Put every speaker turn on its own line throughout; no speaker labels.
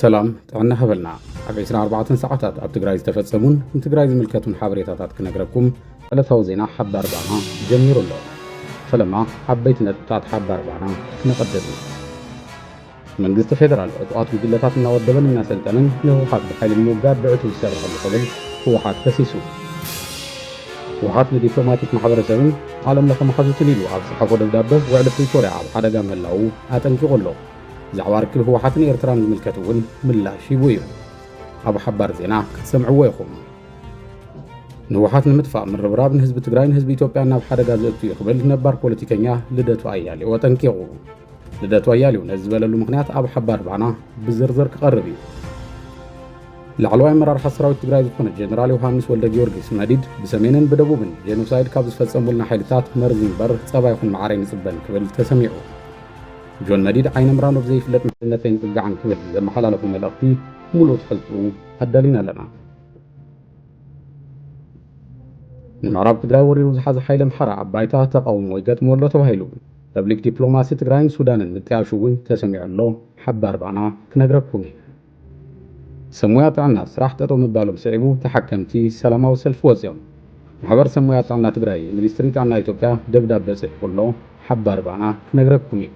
ሰላም ጥዕና ሃበልና ኣብ 24 ሰዓታት ኣብ ትግራይ ዝተፈጸሙን ንትግራይ ዝምልከቱን ሓበሬታታት ክነግረኩም ዕለታዊ ዜና ሓባር ባና ጀሚሩ ኣሎ ፈለማ ዓበይቲ ነጥብታት ሓባር ባና ክነቐድም መንግስቲ ፌደራል ዕጡቓት ጉጅለታት እናወደበን እናሰልጠንን ንህወሓት ብሓይሊ ንምውጋድ ብዕቱ ዝሰርሐሉ ክብል ህወሓት ከሲሱ ህወሓት ንዲፕሎማቲክ ማሕበረሰብን ዓለም ለኸ መሓዙትን ኢሉ ኣብ ዝሓፎ ደብዳበ ውዕሊ ፕሪቶርያ ኣብ ሓደጋ ምህላዉ ኣጠንቂቑ ኣሎ ብዛዕባ ርክብ ህወሓትን ኤርትራን ዝምልከት እውን ምላሽ ሂቡ እዩ ኣብ ሓባር ዜና ክትሰምዕዎ ኢኹም ንውሓት ንምጥፋእ ምርብራብ ንህዝቢ ትግራይን ህዝቢ ኢትዮጵያን ናብ ሓደጋ ዘእቱ እዩ ክብል ነባር ፖለቲከኛ ልደቱ ኣያሌው ኣጠንቂቑ። ልደቱ ኣያሌው ነዚ ዝበለሉ ምክንያት ኣብ ሓባር ባና ብዝርዝር ክቐርብ እዩ። ላዕለዋይ ኣመራርሓ ሰራዊት ትግራይ ዝኾነ ጀነራል ዮሃንስ ወልደ ጊዮርጊስ መዲድ ብሰሜንን ብደቡብን ጄኖሳይድ ካብ ዝፈጸሙልና ሓይልታት መርዚ እምበር ጸባ ይኹን መዓረይ ንጽበን ክብል ተሰሚዑ። ጆን መዲድ ዓይነምራን ኣብ ዘይፍለጥ መንነት ኣይንጽጋዕን ክብል ዘመሓላለፎ መልእኽቲ ሙሉእ ትሕዝትኡ ኣዳሊና ኣለና። ንምዕራብ ትግራይ ወሪሩ ዝሓዘ ሓይሊ ኣምሓራ ኣብ ባይታ ተቓውሞ ይገጥሞ ኣሎ ተባሂሉ ፐብሊክ ዲፕሎማሲ ትግራይን ሱዳንን ምጥያሹ እውን ተሰሚዑ ኣሎ ሓባር ባና ክነግረኩም እየ። ሰብ ሞያ ጥዕና ስራሕ ጠጠው ምባሎም ስዒቡ ተሓከምቲ ሰላማዊ ሰልፊ ወፂኦም። ማሕበር ሰብ ሞያ ጥዕና ትግራይ ሚኒስትሪ ጥዕና ኢትዮጵያ ደብዳበ ፅሒፉ ኣሎ፣ ሓባር ባና ክነግረኩም እዩ።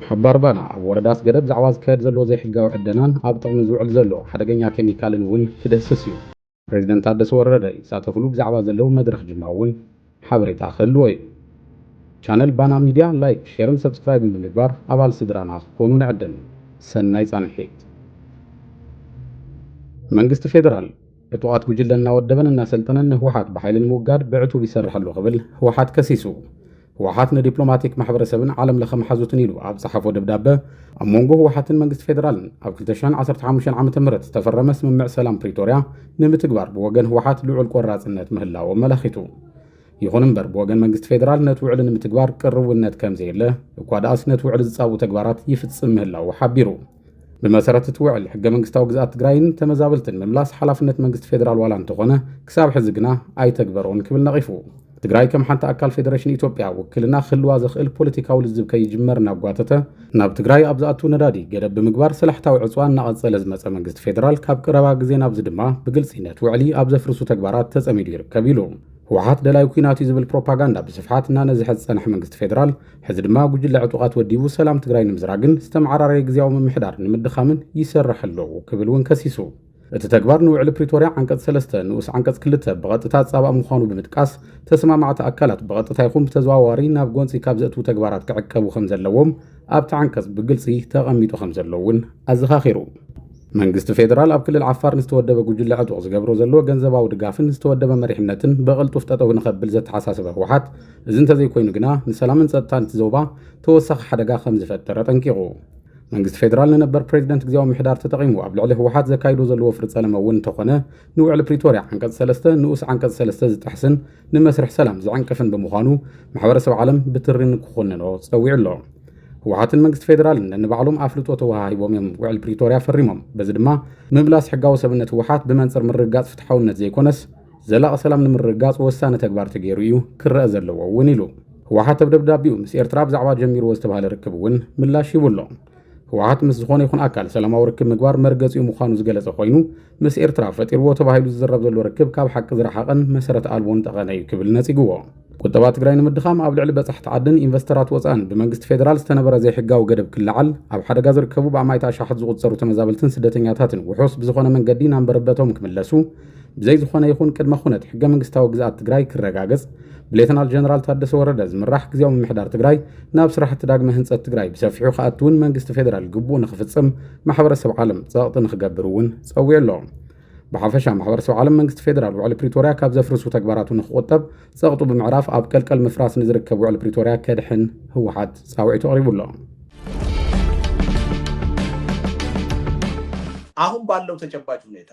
ሓባር ባና ኣብ ወረዳ ኣስገደት ዛዕባ ዝካየድ ዘሎ ዘይሕጋዊ ዕደናን ኣብ ጥቕሚ ዝውዕል ዘሎ ሓደገኛ ኬሚካልን እውን ክድህስስ እዩ። ፕረዚደንት ታደሰ ወረደ ይሳተፍሉ ብዛዕባ ዘለዉ መድረኽ ጅማ እውን ሓበሬታ ክህልዎ እዩ። ቻነል ባና ሚድያ ላይክ፣ ሼርን ሰብስክራይብን ብምግባር ኣባል ስድራና ክትኮኑ ንዕድም። ሰናይ ፃንሒት! መንግስቲ ፌደራል ዕጡቓት ጉጅለ እናወደበን እናሰልጠነን ንህወሓት ብሓይሊ ንምውጋድ ብዕቱብ ይሰርሕ ኣሎ ክብል ህወሓት ከሲሱ። ህወሓት ንዲፕሎማቲክ ማሕበረሰብን ዓለም ለኸ መሓዙትን ኢሉ ኣብ ዝሓፎ ደብዳበ ኣብ መንጎ ህወሓትን መንግስቲ ፌዴራልን ኣብ 2015 ዓ ም ዝተፈረመ ስምምዕ ሰላም ፕሪቶርያ ንምትግባር ብወገን ህወሓት ልዑል ቆራፅነት ምህላዎ መላኺቱ ይኹን እምበር ብወገን መንግስቲ ፌዴራል ነቲ ውዕሊ ንምትግባር ቅርውነት ከም ዘየለ እኳ ደኣስ ነቲ ውዕሊ ዝፃብኡ ተግባራት ይፍፅም ምህላዉ ሓቢሩ ብመሰረት እቲ ውዕል ሕገ መንግስታዊ ግዝኣት ትግራይን ተመዛበልትን ምምላስ ሓላፍነት መንግስቲ ፌዴራል ዋላ እንተኾነ ክሳብ ሕዚ ግና ኣይተግበሮን ክብል ነቒፉ። ትግራይ ከም ሓንቲ ኣካል ፌደሬሽን ኢትዮጵያ ውክልና ክህልዋ ዘኽእል ፖለቲካዊ ልዝብ ከይጅመር እናጓተተ ናብ ትግራይ ኣብ ዝኣቱ ነዳዲ ገደብ ብምግባር ሰላሕታዊ ዕፅዋ እናቐፀለ ዝመፀ መንግስቲ ፌዴራል ካብ ቀረባ ግዜ ናብዚ ድማ ብግልፂ ነቲ ውዕሊ ኣብ ዘፍርሱ ተግባራት ተፀሚዱ ይርከብ ኢሉ። ህወሓት ደላይ ኲናት እዩ ዝብል ፕሮፓጋንዳ ብስፍሓት እናነዝሐ ዝፀንሐ መንግስቲ ፌዴራል ሕዚ ድማ ጉጅለ ዕጡቓት ወዲቡ ሰላም ትግራይ ንምዝራግን ዝተመዓራረየ ግዝያዊ ምምሕዳር ንምድኻምን ይሰርሕ ኣሎ ክብል እውን ከሲሱ። እቲ ተግባር ንውዕሊ ፕሪቶርያ ዓንቀፅ ሰለስተ ንኡስ ዓንቀፅ ክልተ ብቐጥታ ዝፃባእ ምዃኑ ብምጥቃስ፣ ተሰማማዕቲ ኣካላት ብቐጥታ ይኹን ብተዘዋዋሪ ናብ ጎንፂ ካብ ዘእትዉ ተግባራት ክዕቀቡ ከምዘለዎም ኣብቲ ዓንቀፅ ብግልፂ ተቐሚጡ ከምዘሎ እውን ኣዘኻኺሩ። መንግስቲ ፌደራል ኣብ ክልል ዓፋር ንዝተወደበ ጉጅለ ዕጡቕ ዝገብሮ ዘሎ ገንዘባዊ ድጋፍን ዝተወደበ መሪሕነትን ብቕልጡፍ ጠጠው ንኸብል ዘተሓሳሰበ ህወሓት፣ እዚ እንተዘይኮይኑ ግና ንሰላምን ጸጥታን እቲ ዞባ ተወሳኺ ሓደጋ ከም ዝፈጥር ኣጠንቂቑ። መንግስቲ ፌደራል ንነበር ፕሬዚደንት ግዝያዊ ምሕዳር ተጠቒሙ ኣብ ልዕሊ ህወሓት ዘካይዶ ዘሎ ወፍሪ ጸለመ እውን እንተኾነ ንውዕሊ ፕሪቶርያ ዓንቀጽ ሰለስተ ንኡስ ዓንቀጽ ሰለስተ ዝጥሕስን ንመስርሕ ሰላም ዝዕንቅፍን ብምዃኑ ማሕበረሰብ ዓለም ብትሪ ንክኹንኖ ጸዊዑ ኣሎ። ህወሓትን መንግስቲ ፌደራልን ነንባዕሎም ኣፍልጦ ተወሃሂቦም እዮም ውዕል ፕሪቶርያ ፈሪሞም። በዚ ድማ ምምላስ ሕጋዊ ሰብነት ህወሓት ብመንጽር ምርግጋጽ ፍትሓውነት ዘይኮነስ ዘላቒ ሰላም ንምርግጋፅ ወሳኒ ተግባር ተገይሩ እዩ ክረአ ዘለዎ እውን ኢሉ። ህወሓት ኣብ ደብዳቤኡ ምስ ኤርትራ ብዛዕባ ጀሚርዎ ዝተባሃለ ርክብ እውን ምላሽ ሂቡ ኣሎ። ህወሓት ምስ ዝኾነ ይኹን ኣካል ሰላማዊ ርክብ ምግባር መርገፂኡ ምዃኑ ዝገለፀ ኮይኑ ምስ ኤርትራ ፈጢርዎ ተባሂሉ ዝዝረብ ዘሎ ርክብ ካብ ሓቂ ዝረሓቐን መሰረት ኣልቦን ጠቐነ እዩ ክብል ነፂግዎ። ቁጠባ ትግራይ ንምድኻም ኣብ ልዕሊ በፃሕቲ ዓድን ኢንቨስተራት ወፃእን ብመንግስቲ ፌዴራል ዝተነበረ ዘይሕጋዊ ገደብ ክለዓል ኣብ ሓደጋ ዝርከቡ ብኣማኢት ኣሻሓት ዝቑፀሩ ተመዛበልትን ስደተኛታትን ውሑስ ብዝኾነ መንገዲ ናብ መረበቶም ክምለሱ ብዘይ ዝኾነ ይኹን ቅድመ ኩነት ሕገ መንግስታዊ ግዝኣት ትግራይ ክረጋገፅ ብሌተናል ጀነራል ታደሰ ወረደ ዝምራሕ ግዜያዊ ምምሕዳር ትግራይ ናብ ስራሕቲ ዳግመ ህንፀት ትግራይ ብሰፊሑ ክኣቱ እውን መንግስቲ ፌዴራል ግቡኡ ንክፍፅም ማሕበረሰብ ዓለም ፀቕጢ ንክገብር እውን ፀዊዑ ኣሎ። ብሓፈሻ ማሕበረሰብ ዓለም መንግስቲ ፌዴራል ውዕሊ ፕሪቶርያ ካብ ዘፍርሱ ተግባራቱ ንክቑጠብ ጸቕጡ ብምዕራፍ ኣብ ቀልቀል ምፍራስ ንዝርከብ ውዕሊ ፕሪቶርያ ከድሕን ህወሓት ጻውዒቱ ኣቕሪቡ ኣሎ።
አሁን ባለው ተጨባጭ ሁኔታ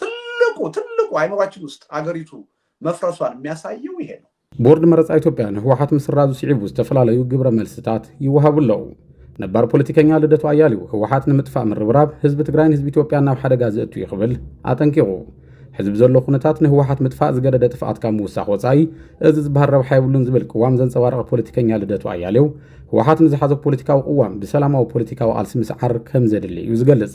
ትልቁ ትልቁ አይምሯችን ውስጥ አገሪቱ መፍረሷን የሚያሳየው ይሄ ነው። ቦርድ መረፃ ኢትዮጵያ
ንህወሓት ምስራዙ ስዒቡ ዝተፈላለዩ ግብረ መልስታት ይወሃቡ ኣለዉ። ነባር ፖለቲከኛ ልደቱ ኣያሌው ህወሓት ንምጥፋእ ምርብራብ ህዝቢ ትግራይን ህዝቢ ኢትዮጵያ ናብ ሓደጋ ዘእቱ እዩ ክብል ኣጠንቂቑ። ሕዝቢ ዘሎ ኩነታት ንህወሓት ምጥፋእ ዝገደደ ጥፍኣት ካብ ምውሳኽ ወፃኢ እዚ ዝበሃል ረብሓ የብሉን ዝብል ቅዋም ዘንፀባረቐ ፖለቲከኛ ልደቱ ኣያሌው ህወሓት ንዝሓዞ ፖለቲካዊ ቅዋም ብሰላማዊ ፖለቲካዊ ቃልሲ ምስዓር ከም ዘድሊ እዩ ዝገልጽ።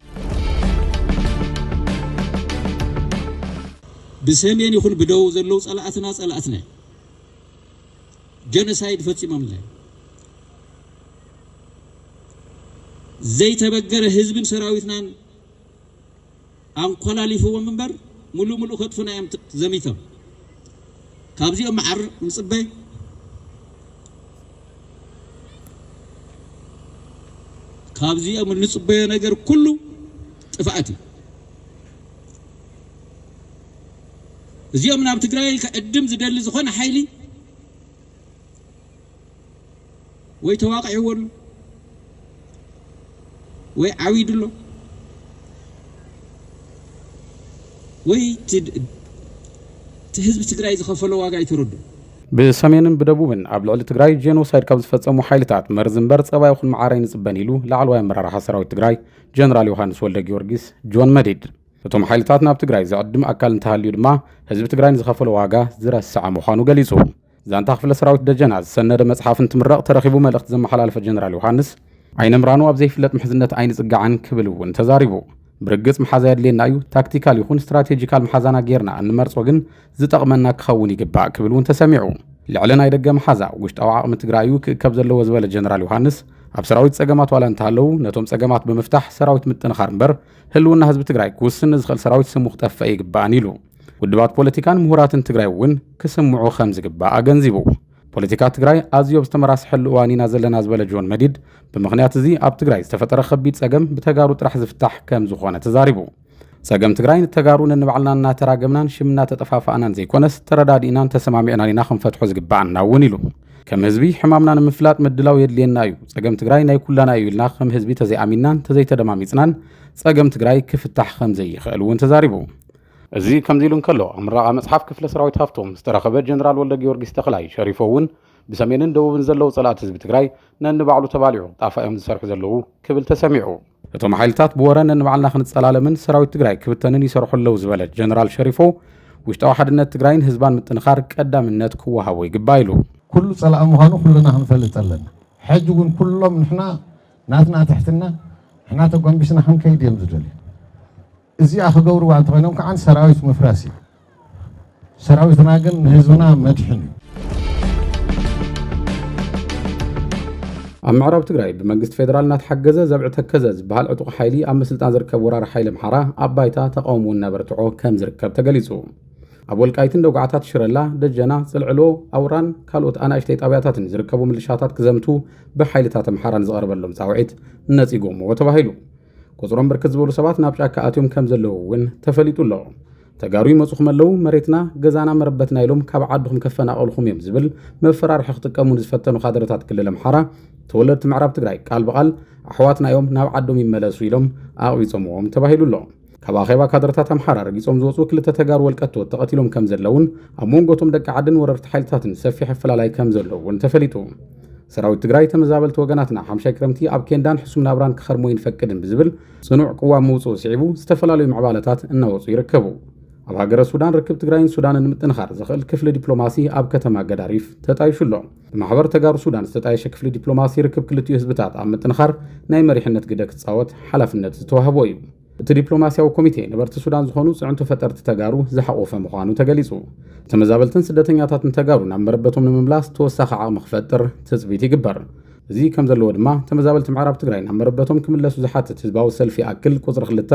ብሰሜን ይኹን ብደቡብ ዘለዉ ጸላእትና ጸላእትና እዮም። ጀኖሳይድ ፈጺሞምና እዮም። ዘይተበገረ ህዝብን ሰራዊትናን ኣንኮላሊፍዎም እምበር ሙሉእ ሙሉእ ከጥፉና እዮም ዘሚቶም። ካብዚኦም መዓር ንጽበ። ካብዚኦም እንጽበዮ ነገር ኩሉ ጥፍኣት እዩ። እዚኦም ናብ ትግራይ ከዕድም ዝደሊ ዝኾነ ሓይሊ ወይ ተዋቒዕዎ ኣሎ ወይ ዓዊዱ ኣሎ ወይ እቲ ህዝቢ ትግራይ ዝኸፈሎ ዋጋ ኣይተረድኡን። ብሰሜንን
ብደቡብን ኣብ ልዕሊ ትግራይ ጄኖሳይድ ካብ ዝፈጸሙ ሓይልታት መርዚ እምበር ጸባ ይኹን መዓር ኣይንጽበን ኢሉ ላዕለዋይ ኣመራርሓ ሰራዊት ትግራይ ጀነራል ዮሃንስ ወልደጊዮርጊስ ጆን መዲድ። እቶም ሓይልታት ናብ ትግራይ ዝዕድም ኣካል እንተሃልዩ ድማ ህዝቢ ትግራይ ንዝኸፈሎ ዋጋ ዝረስዐ ምዃኑ ገሊጹ። ዛንታ ክፍለ ሰራዊት ደጀና ዝሰነደ መጽሓፍ እንትምረቕ ተረኺቡ መልእኽቲ ዘመሓላለፈ ጀነራል ዮሃንስ ዓይነምራኑ ኣብ ዘይፍለጥ ምሕዝነት ኣይንጽጋዕን ክብል እውን ተዛሪቡ። ብርግጽ መሓዛ የድልየና እዩ፣ ታክቲካል ይኹን ስትራቴጂካል መሓዛና ጌርና እንመርጾ ግን ዝጠቕመና ክኸውን ይግባእ ክብል እውን ተሰሚዑ። ልዕሊ ናይ ደገ መሓዛ ውሽጣዊ ዓቕሚ ትግራይ እዩ ክእከብ ዘለዎ ዝበለ ጀነራል ዮሃንስ ኣብ ሰራዊት ጸገማት ዋላ እንተሃለዉ ነቶም ጸገማት ብምፍታሕ ሰራዊት ምጥንኻር እምበር ህልውና ህዝቢ ትግራይ ክውስን ንዝኽእል ሰራዊት ስሙ ክጠፍእ ኣይግባእን ኢሉ። ውድባት ፖለቲካን ምሁራትን ትግራይ እውን ክስምዑ ከም ዝግባእ ኣገንዚቡ። ፖለቲካ ትግራይ ኣዝዮ ኣብ ዝተመራስሐሉ እዋን ኢና ዘለና ዝበለ ጆን መዲድ ብምኽንያት እዚ ኣብ ትግራይ ዝተፈጠረ ከቢድ ጸገም ብተጋሩ ጥራሕ ዝፍታሕ ከም ዝኾነ ተዛሪቡ። ጸገም ትግራይ ንተጋሩ ነንባዕልና እናተራገምናን ሽም እናተጠፋፋእናን ዘይኮነስ ተረዳዲእናን ተሰማሚዕናን ኢና ክንፈትሖ ዝግባኣና እውን ኢሉ። ከም ህዝቢ ሕማምና ንምፍላጥ ምድላው የድልየና እዩ። ጸገም ትግራይ ናይ ኩላና እዩ ኢልና ከም ህዝቢ ተዘይኣሚንናን ተዘይተደማሚጽናን ጸገም ትግራይ ክፍታሕ ከም ዘይኽእል እውን ተዛሪቡ። እዚ ከምዚ ኢሉ እንከሎ ኣብ ምረቓ መጽሓፍ ክፍለ ሰራዊት ሃፍቶም ዝተረኸበ ጀነራል ወልደ ጊዮርጊስ ተኽላይ ሸሪፎ እውን ብሰሜንን ደቡብን ዘለዉ ጸላእቲ ህዝቢ ትግራይ ነንባዕሉ ተባሊዑ ጣፋ እዮም ዝሰርሑ ዘለዉ ክብል ተሰሚዑ። እቶም ሓይልታት ብወረ ነንባዕልና ክንጸላለምን ሰራዊት ትግራይ ክብተንን ይሰርሑ ኣለዉ ዝበለ ጀነራል ሸሪፎ ውሽጣዊ ሓድነት ትግራይን ህዝባን ምጥንኻር ቀዳምነት ክወሃቦ ይግባእ ኢሉ። ኩሉ ጸላኢ ምዃኑ
ኩልና ክንፈልጥ ኣለና። ሕጂ እውን ኩሎም ንሕና ናትና ትሕትና ንሕና ተጎንቢስና ክንከይድ እዮም ዝደልዩ። እዚኣ ክገብርዋ እንተኾይኖም ከዓ ሰራዊት ምፍራስ እዩ። ሰራዊትና ግን ንህዝብና መድሕን እዩ። ኣብ ምዕራብ ትግራይ ብመንግስቲ ፌደራል እናተሓገዘ ዘብዒ ተከዘ ዝበሃል ዕጡቕ ሓይሊ ኣብ ምስልጣን ዝርከብ ወራሪ ሓይሊ ኣምሓራ ኣብ ባይታ ተቃውሞ እናበርትዖ ከም ዝርከብ ተገሊጹ ኣብ ወልቃይትን ደጉዓታት ሽረላ ደጀና ጽልዕሎ ኣውራን ካልኦት ኣናእሽተይ ጣብያታትን ዝርከቡ ምልሻታት ክዘምቱ ብሓይልታት ኣምሓራ ንዝቐርበሎም ፃውዒት ነፂጎምዎ ተባሂሉ ቁፅሮም ብርክት ዝበሉ ሰባት ናብ ጫካ ኣትዮም ከም ዘለዉ እውን ተፈሊጡ ኣሎ ተጋሩ ይመፁኹም ኣለዉ መሬትና ገዛና መረበትና ኢሎም ካብ ዓድኹም ከፈናቐልኹም እዮም ዝብል መፈራርሒ ክጥቀሙ ንዝፈተኑ ካድረታት ክልል ኣምሓራ ተወለድቲ ምዕራብ ትግራይ ቃል ብቓል ኣሕዋትና እዮም ናብ ዓዶም ይመለሱ ኢሎም ኣቕቢፆምዎም ተባሂሉ ኣሎ ካብ ኣኼባ ካድረታት ኣምሓራ ረጊፆም ዝወፁ ክልተ ተጋሩ ወልቀቶት ተቐቲሎም ከም ዘለውን ኣብ መንጎቶም ደቂ ዓድን ወረርቲ ሓይልታትን ሰፊሕ ኣፈላላይ ከም ዘለውን ተፈሊጡ ሰራዊት ትግራይ ተመዛበልቲ ወገናትና ሓምሻይ ክረምቲ ኣብ ኬንዳን ሕሱም ናብራን ክኸርሙ ኣይንፈቅድን ብዝብል ጽኑዕ ቅዋም ምውጽኡ ስዒቡ ዝተፈላለዩ ምዕባለታት እናወጹ ይርከቡ። ኣብ ሃገረ ሱዳን ርክብ ትግራይን ሱዳንን ንምጥንኻር ዘኽእል ክፍሊ ዲፕሎማሲ ኣብ ከተማ ገዳሪፍ ተጣይሹ ኣሎ። ብማሕበር ተጋሩ ሱዳን ዝተጣየሸ ክፍሊ ዲፕሎማሲ ርክብ ክልቲኡ ህዝብታት ኣብ ምጥንኻር ናይ መሪሕነት ግደ ክጻወት ሓላፍነት ዝተዋህቦ እዩ። እቲ ዲፕሎማስያዊ ኮሚቴ ነበርቲ ሱዳን ዝኾኑ ፅዕንቶ ፈጠርቲ ተጋሩ ዝሓቖፈ ምዃኑ ተገሊፁ። ተመዛበልትን ስደተኛታትን ተጋሩ ናብ መረበቶም ንምምላስ ተወሳኺ ዓቕሚ ክፈጥር ትፅቢት ይግበር። እዚ ከምዘለዎ ድማ ተመዛበልቲ ምዕራብ ትግራይ ናብ መረበቶም ክምለሱ ዝሓትት ህዝባዊ ሰልፊ ይኣክል ቁፅሪ ክልተ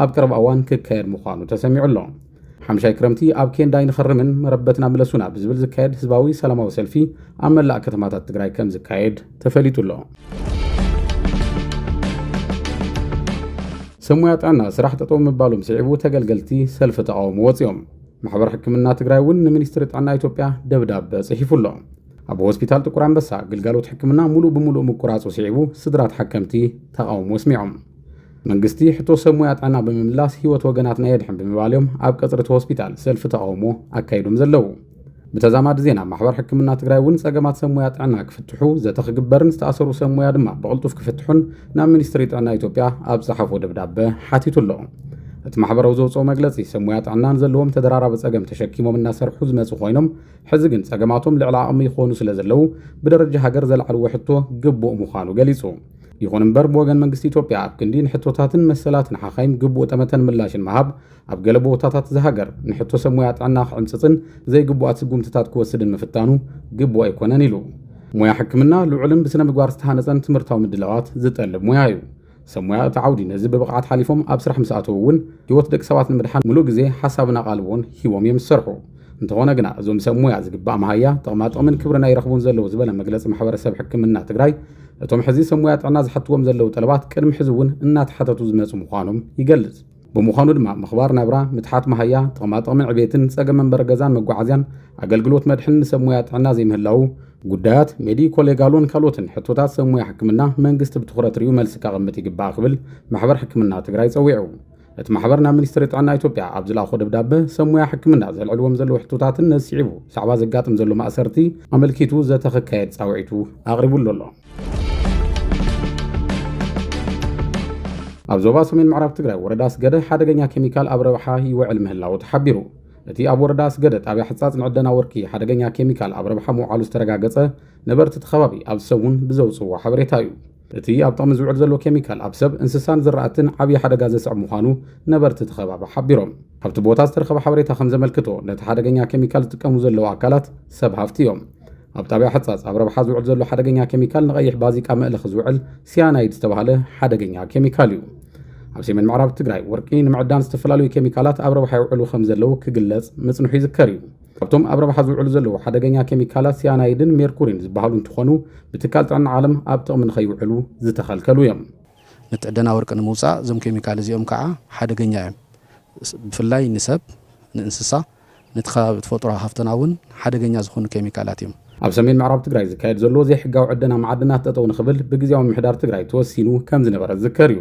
ኣብ ቀረባ እዋን ክካየድ ምዃኑ ተሰሚዑ ኣሎ። ሓምሻይ ክረምቲ ኣብ ኬንዳ ኣይንኸርምን መረበትና ምለሱና ብዝብል ዝካየድ ህዝባዊ ሰላማዊ ሰልፊ ኣብ መላእ ከተማታት ትግራይ ከም ዝካየድ ተፈሊጡ ኣሎ። ሰብ ሙያ ጥዕና ስራሕ ጠጠው ምባሎም ስዒቡ ተገልገልቲ ሰልፊ ተቃውሞ ወፂኦም ማሕበር ሕክምና ትግራይ እውን ንሚኒስትሪ ጥዕና ኢትዮጵያ ደብዳበ ጽሒፉ ኣሎ ኣብ ሆስፒታል ጥቁር ኣንበሳ ግልጋሎት ሕክምና ሙሉእ ብምሉእ ምቁራፁ ስዒቡ ስድራ ተሓከምቲ ተቃውሞ ኣስሚዖም መንግስቲ ሕቶ ሰብ ሙያ ጥዕና ብምምላስ ህይወት ወገናትና የድሕን ብምባል እዮም ኣብ ቀፅሪ እቲ ሆስፒታል ሰልፊ ተቃውሞ ኣካይዶም ዘለዉ። ብተዛማዲ ዜና ማሕበር ሕክምና ትግራይ እውን ፀገማት ሰብ ሙያ ጥዕና ክፍትሑ ዘተ ክግበርን ዝተኣሰሩ ሰብ ሙያ ድማ ብቕልጡፍ ክፍትሑን ናብ ሚኒስትሪ ጥዕና ኢትዮጵያ ኣብ ዝፀሓፎ ደብዳበ ሓቲቱ ኣሎ። እቲ ማሕበረው ዘውፅኦ መግለፂ ሰብ ሙያ ጥዕናን ዘለዎም ተደራራቢ ፀገም ተሸኪሞም እናሰርሑ ዝመፁ ኮይኖም ሕዚ ግን ፀገማቶም ልዕሊ ዓቕሚ ይኾኑ ስለ ዘለው ብደረጃ ሃገር ዘልዓልዎ ሕቶ ግቡእ ምዃኑ ገሊፁ። ይኹን እምበር ብወገን መንግስቲ ኢትዮጵያ ኣብ ክንዲ ንሕቶታትን መሰላትን ሓኻይም ግቡእ ጠመተን ምላሽን ምሃብ ኣብ ገለ ቦታታት እዛ ሃገር ንሕቶ ሰብ ሞያ ጥዕና ክዕምፅፅን ዘይግቡኣት ስጉምትታት ክወስድን ምፍታኑ ግቡእ ኣይኮነን ኢሉ። ሞያ ሕክምና ልዑልን ብስነ ምግባር ዝተሃነፀን ትምህርታዊ ምድላዋት ዝጠልብ ሞያ እዩ። ሰብ ሞያ እቲ ዓውዲ ነዚ ብብቕዓት ሓሊፎም ኣብ ስራሕ ምስ ኣተዉ እውን ህይወት ደቂ ሰባት ንምድሓን ሙሉእ ግዜ፣ ሓሳብን ኣቓልቦን ሂቦም እዮም ዝሰርሑ። እንተኾነ ግና እዞም ሰብ ሙያ ዝግባእ መሃያ ጥቕማጥቕምን ክብርን ኣይረኽቡን ዘለዉ ዝበለ መግለፂ ማሕበረሰብ ሕክምና ትግራይ እቶም ሕዚ ሰብ ሙያ ጥዕና ዝሓትዎም ዘለዉ ጠለባት ቅድሚ ሕዚ እውን እናተሓተቱ ዝመፁ ምዃኖም ይገልፅ። ብምዃኑ ድማ ምኽባር ናብራ፣ ምትሓት መሃያ፣ ጥቕማጥቕምን ዕቤትን፣ ፀገም መንበሪ ገዛን መጓዓዝያን፣ ኣገልግሎት መድሕን ንሰብ ሙያ ጥዕና ዘይምህላዉ፣ ጉዳያት ሜዲኮ ሌጋሎን ካልኦትን ሕቶታት ሰብ ሙያ ሕክምና መንግስቲ ብትኹረት ሪኡ መልሲ ከቐምጥ ይግባእ ክብል ማሕበር ሕክምና ትግራይ ፀዊዑ። እቲ ማሕበር ናብ ሚኒስትሪ ጥዕና ኢትዮጵያ ኣብ ዝለኣኾ ደብዳበ ሰብ ሙያ ሕክምና ዘልዕልዎም ዘለዉ ሕቶታትን ነስዒቡ ብዛዕባ ዘጋጥም ዘሎ ማእሰርቲ ኣመልኪቱ ዘተ ክካየድ ፃውዒቱ ኣቕሪቡሉ ኣሎ ኣብ ዞባ ሰሜን ምዕራብ ትግራይ ወረዳ ስገደ ሓደገኛ ኬሚካል ኣብ ረብሓ ይውዕል ምህላዉ ተሓቢሩ እቲ ኣብ ወረዳ ስገደ ጣብያ ሕፃፅ ንዕደና ወርቂ ሓደገኛ ኬሚካል ኣብ ረብሓ ምውዓሉ ዝተረጋገፀ ነበርቲ እቲ ከባቢ ኣብ ሰሙን ብዘውፅዎ ሓበሬታ እዩ እቲ ኣብ ጥቕሚ ዝውዕል ዘሎ ኬሚካል ኣብ ሰብ፣ እንስሳን ዝራእትን ዓብዪ ሓደጋ ዘስዕብ ምዃኑ ነበርቲ እቲ ከባቢ ሓቢሮም። ኣብቲ ቦታ ዝተረኸበ ሓበሬታ ከም ዘመልክቶ፣ ነቲ ሓደገኛ ኬሚካል ዝጥቀሙ ዘለዉ ኣካላት ሰብ ሃፍቲ እዮም። ኣብ ጣብያ ሕፃፅ ኣብ ረብሓ ዝውዕል ዘሎ ሓደገኛ ኬሚካል ንቐይሕ ባዚቃ መእለኺ ዝውዕል ሲያናይድ ዝተባህለ ሓደገኛ ኬሚካል እዩ። ኣብ ሰሜን ምዕራብ ትግራይ ወርቂ ንምዕዳን ዝተፈላለዩ ኬሚካላት ኣብ ረብሓ ይውዕሉ ከም ዘለዉ ክግለፅ ምፅንሑ ይዝከር እዩ። ካብቶም ኣብ ረብሓ ዝውዕሉ ዘለዉ ሓደገኛ ኬሚካላት ሲያናይድን ሜርኩሪን ዝበሃሉ እንትኾኑ ብትካል ጥዕና ዓለም ኣብ ጥቕሚ ንኸይውዕሉ ዝተኸልከሉ እዮም። ንትዕደና ወርቂ
ንምውፃእ እዞም ኬሚካል እዚኦም ከዓ ሓደገኛ እዮም። ብፍላይ ንሰብ፣ ንእንስሳ፣ ነቲ ከባቢ ተፈጥሮ ሃፍትና እውን ሓደገኛ ዝኾኑ ኬሚካላት እዮም። ኣብ ሰሜን ምዕራብ ትግራይ
ዝካየድ ዘሎ ዘይሕጋዊ ዕደና መዓድናት ጠጠው ንኽብል ብግዜያዊ ምሕዳር ትግራይ ተወሲኑ ከም ዝነበረ ዝዝከር እዩ።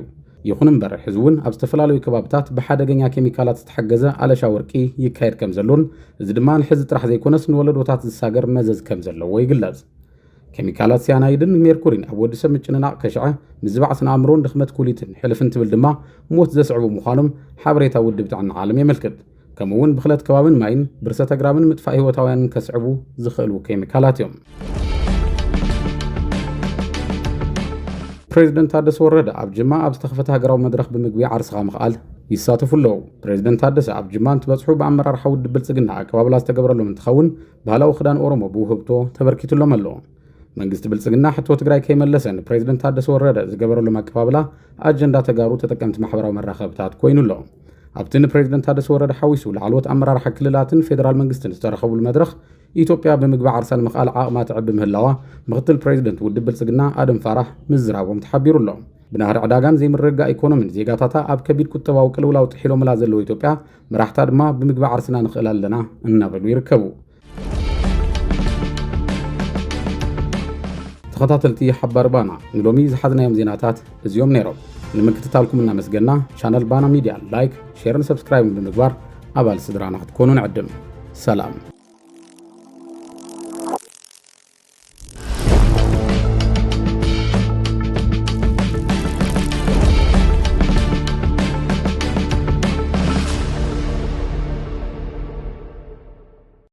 ይኹን እምበር ሕዚ እውን ኣብ ዝተፈላለዩ ከባብታት ብሓደገኛ ኬሚካላት ዝተሓገዘ ኣለሻ ወርቂ ይካየድ ከም ዘሎን እዚ ድማ ንሕዚ ጥራሕ ዘይኮነስ ንወለዶታት ዝሳገር መዘዝ ከም ዘለዎ ይግለጽ። ኬሚካላት ሲያናይድን ሜርኩሪን ኣብ ወዲ ሰብ ምጭንናቕ ከሽዐ ምዝባዕ ስነ ኣእምሮን ድኽመት ኩሊትን ሕልፍን ትብል ድማ ሞት ዘስዕቡ ምዃኖም ሓበሬታ ውድብ ጥዕና ዓለም የመልክት። ከምኡ እውን ብክለት ከባብን ማይን ብርሰት ኣግራብን ምጥፋእ ህይወታውያንን ከስዕቡ ዝኽእሉ ኬሚካላት እዮም ፕሬዚደንት ታደሰ ወረደ ኣብ ጅማ ኣብ ዝተኸፈተ ሃገራዊ መድረኽ ብምግቢ ዓርስኻ ምኽኣል ይሳተፉ ኣለዉ ፕሬዚደንት ታደሰ ኣብ ጅማ እንትበፅሑ ብኣመራርሓ ውድብ ብልፅግና ኣቀባብላ ዝተገብረሎም እንትኸውን ባህላዊ ክዳን ኦሮሞ ብውህብቶ ተበርኪቱሎም ኣሎ መንግስቲ ብልፅግና ሕቶ ትግራይ ከይመለሰ ንፕሬዚደንት ታደሰ ወረደ ዝገበረሎም ኣቀባብላ ኣጀንዳ ተጋሩ ተጠቀምቲ ማሕበራዊ መራኸብታት ኮይኑ ኣሎ። ኣብቲ ንፕሬዚደንት ታደሰ ወረደ ሓዊሱ ላዕለዎት ኣመራርሓ ክልላትን ፌዴራል መንግስትን ዝተረኸብሉ መድረኽ ኢትዮጵያ ብምግቢ ዓርሳ ንምኽኣል ዓቕማ ትዕቢ ምህላዋ ምክትል ፕሬዚደንት ውድብ ብልፅግና ኣደም ፋራሕ ምዝራቦም ተሓቢሩ ኣሎ። ብናህሪ ዕዳጋን ዘይምርግጋእ ኢኮኖሚን ዜጋታታ ኣብ ከቢድ ቁጠባዊ ቅልውላው ጥሒሎምላ ዘለዉ ኢትዮጵያ መራሕታ ድማ ብምግቢ ዓርስና ንኽእል ኣለና እናበሉ ይርከቡ። ተኸታተልቲ ሓባር ባና ንሎሚ ዝሓዝናዮም ዜናታት እዚኦም ነይሮም። ንምክትታልኩም እናመስገና ቻነል ባና ሚድያ ላይክ፣ ሼርን ሰብስክራይብን ብምግባር ኣባል ስድራና ክትኮኑ ንዕድም። ሰላም